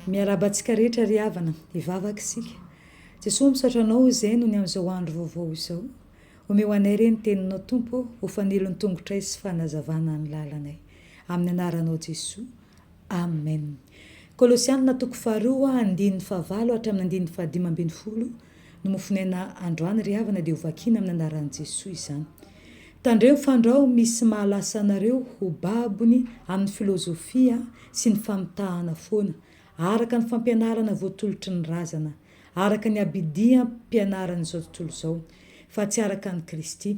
Miarahaba antsika rehetra ry havana, hivavaka isika. Jesoa, misaotra Anao izay nony amin'izao andro vaovao izao. Omeo anay re ny Teninao Tompo ô, ho fanilon'ny tongotray sy fanazavana ny lalanay. Amin'ny Anaranao Jesoa. Amen. Kolosiana toko faharoa andininy fahavalo hatramin'ny andininy fahadimy ambin'ny folo. Nomofonaina androany ry havana dia ho vakiana amin'ny anaran'i Jesoa izany. Tandremo ny fandrao misy mahalasa anareo ho babony amin'ny filozofia sy ny famitahana foana, araka ny fampianarana voatolotry ny razana, araka ny abidiam-pianaran'izao tontolo izao, fa tsy araka an'i Kristy.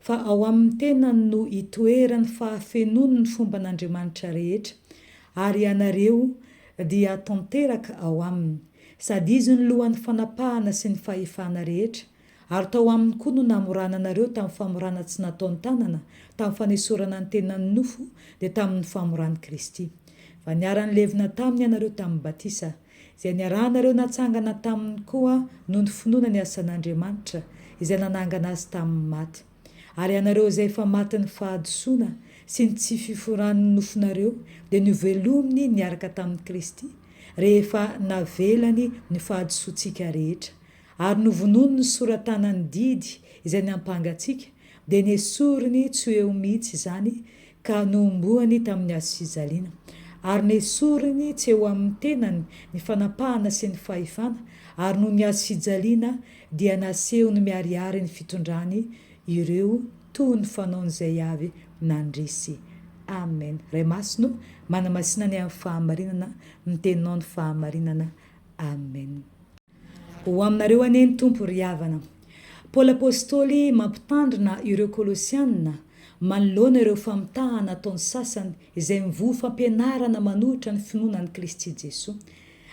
Fa ao amin'ny tenany no itoeran'ny fahafenoany ny fomban'Andriamanitra rehetra, ary ianareo dia tanteraka ao aminy, sady izy no lohan'ny fanapahana sy ny fahefana rehetra, ary tao aminy koa no namorana anareo tamin'ny famorana tsy nataon-tanana, tamin'ny fanesorana ny tenan'ny nofo, dia tamin'ny famoran'i Kristy. Fa niara-nilevina taminy ianareo tamin'ny batisa, izay niarahanareo natsangana taminy koa noho ny finoana ny asan'Andriamanitra, izay nanangana azy tamin'ny maty. Ary ianareo izay efa matin'ny fahadisoana sy ny tsy fiforan'ny nofonareo dia novelominy niaraka tamin'i Kristy, rehefa navelany ny fahadisoantsika rehetra, ary novonoiny ny sora-tanan'ny didy izay niampanga antsika, dia nesoriny tsy ho eo mihitsy izany ka nohomboany tamin'ny hazo fijaliana, ary nesoriny tsy eo amin'ny tenany ny fanapahana sy ny fahefana, ary noho ny hazo fijaliana dia nasehony miharihary ny fitondrany ireo toa ny fanaony izay avy nandresy. Amen. Ray Masina ô, manamasina ny amin'ny fahamarinana, mitenona ao ny fahamarinana. Amen. Ho aminareo anie ny Tompo ry havana. Paoly Apostoly mampitandrina ireo Kolosiana manoloana ireo famitahana ataon'ny sasany izay mivoha fampianarana manohitra ny finoana an'i Kristy Jesoa.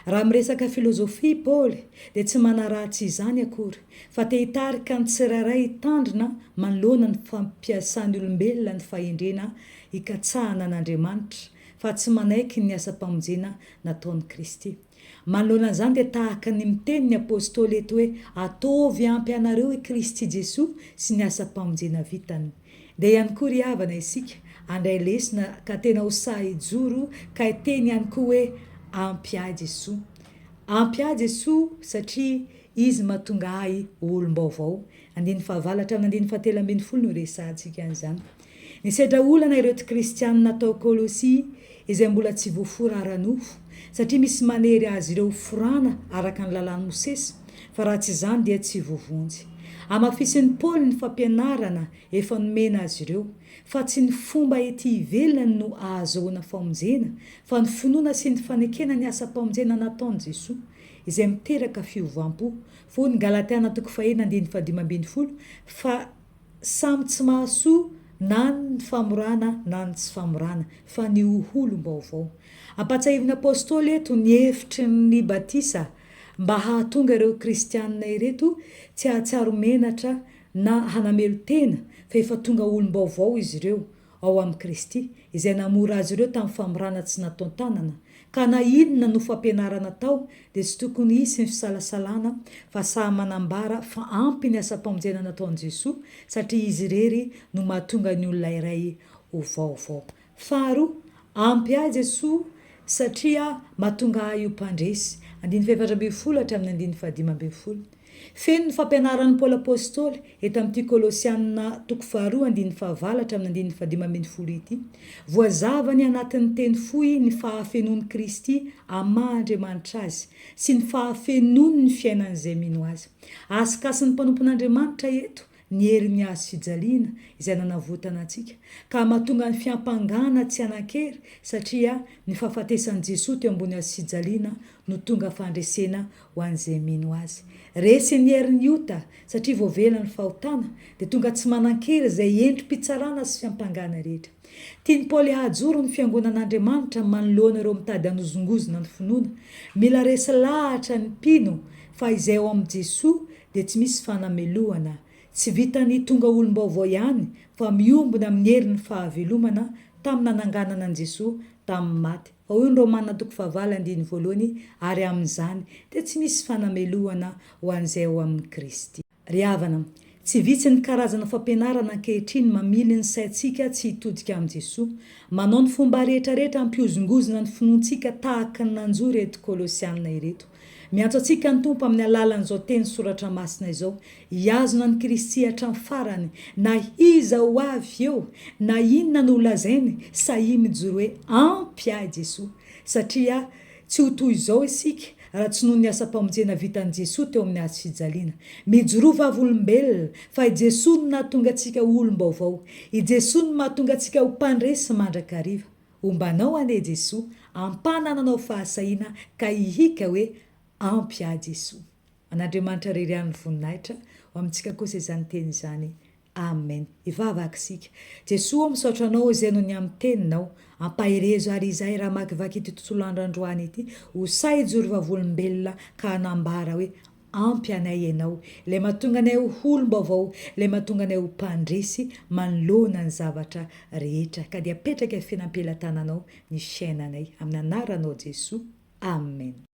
Raha miresaka filozofia Paoly dia tsy manaraha tsy izany akory fa te hitarika ny tsirairay hitandrina manoloana ny fampiasan'ny olombelona ny fahendrena hikatsahana an'Andriamanitra fa tsy manaiky ny asam-pamonjena nataon'i Kristy. Manoloana an'izany dia tahaka ny miteny ny apostoly eto hoe ataovy ampy anareo i Kristy Jesoa sy ny asam-pamonjena vitany. Ndeha ihany koa ry havana isika handray lesona ka tena ho sahy hijoro ka hiteny ihany koa hoe ampy ahy Jesoa. Ampy ahy Jesoa satria Izy mahatonga ahy ho olom-baovao. Andininy fahavalatra aminy andininy fahatelo ambin'ny folo no hiresahantsika an'izany. Nisedra olana ireo tsy kristianina tao Kolosia izay mbola tsy voafora ara-nofo, satria misy manery azy ireo hoforana araka ny Lalàn'i Mosesy, fa raha tsy izany dia tsy ho vonjy. Hamafisin'i Paoly ny fampianarana efa nomena azy ireo, fa tsy ny fomba ety ivelany no ahazoana famonjena, fa ny finoana sy ny fanekena ny asam-pamonjena nataon'i Jesoa, izay miteraka fiovam-po. Fony Galatiana toko faheno andininy fahadimy ambin'ny folo, fa. Samy tsy mahasoa na ny famorana na ny tsy famorana, fa ny ho olom-baovao. Ampahatsiahivin'ny apostoly eto ny hevitry ny batisa mba hahatonga ireo kristiana ireto tsy hahatsiaro menatra na hanamelo-tena fa efa tonga olom-baovao izy ireo, ao amin'i Kristy, izay namora azy ireo tamin'ny famorana tsy nataon-tanana, ka na inona no fampianarana atao dia tsy tokony hisy ny fisalasalana fa sahy manambara fa ampy ny asam-pamonjena nataon'i Jesoa satria Izy irery no mahatonga ny olona iray ho vaovao. Faharoa, ampy ahy Jesoa satria mahatonga ahy ho mpandresy, andininy fahefatra ambin'ny folo hatramin'ny andininy fahadimy ambin'ny folo. Feno ny fampianaran'i Paoly Apostoly eto amin'ity Kolosiana toko faharoa andininy fahavalo hatramin'ny andininy fahadimy ambin'ny folo ity. Voazavany anatin'ny teny fohy ny fahafenoan'i Kristy amin'ny maha Andriamanitra Azy sy ny fahafenoany ny fiainan'izay mino Azy. Asikasin'ny mpanompon'Andriamanitra eto ny herin'ny hazo fijaliana izay nanavotana antsika, ka mahatonga ny fiampangana tsy hanan-kery, satria ny fahafatesan'i Jesoa teo ambony hazo fijaliana no tonga fandresena ho an'izay mino Azy. Resin'ny herin'ny ota, satria voavela ny fahotana, dia tonga tsy manan-kery izay endri-pitsarana sy fiampangana rehetra. Tian'i Paoly hahajoro ny Fiangonan'Andriamanitra manoloana ireo mitady hanozongozona ny finoana. Mila resy lahatra ny mpino fa izay ao amin'i Jesoa dia tsy misy fanamelohana, tsy vitan'ny tonga olom-baovao ihany fa miombona amin'ny herin'ny fahavelomana tamin'ny nananganana an'i Jesoa tamin'ny maty, fa hoy ny Romana toko fahavalo andininy voalohany, ary amin'izany dia tsy misy fanamelohana ho an'izay ao amin'i Kristy. Ry havana, tsy vitsy ny karazana fampianarana ankehitriny mamily ny saintsika tsy hitodika amin'i Jesoa, manao ny fomba rehetrarehetra hampihozongozona ny finoantsika tahaka ny nanjo ireto Kolosiana ireto. Miantso antsika ny Tompo amin'ny alalan'izao teny soratra masina izao, hihazona an'i Kristy hatramin'ny farany, na iza ho avy eo, na inona no holazainy, sahia mijoro hoe ampy ahy Jesoa. Satria tsy ho toy izao isika raha tsy noho ny asam-pamonjena vitan'i Jesoa teo amin'ny hazo fijaliana. Mijoroa vavolombelona, fa i Jesoa no nahatonga antsika ho olom-baovao. I Jesoa no mahatonga antsika ho mpandresy mandrakariva. Homba anao anie Jesoa, ampana ananao fahasahiana ka hihika hoe ampy ahy Jesoa. An'Andriamanitra rery ihany ny voninahitra, ho amintsika kosa izany teny izany. Amen. Hivavaka isika. Jesoa ô misaotra Anao izay noho ny amin'ny teninao. Ampaherezo ary izahay raha hamakivaky ity tontolo andro androany ity. Ho sahy hijoro vavolombelona ka hanambara hoe Ampy anay ianao, ilay mahatonga anay ho olom-baovao, ilay mahatonga anay ho mpandresy manoloana ny zavatra rehetra, ka dia apetraka eo fiainam-pelatananao ny fiainanay, amin'ny anaranao Jesoa, Amen.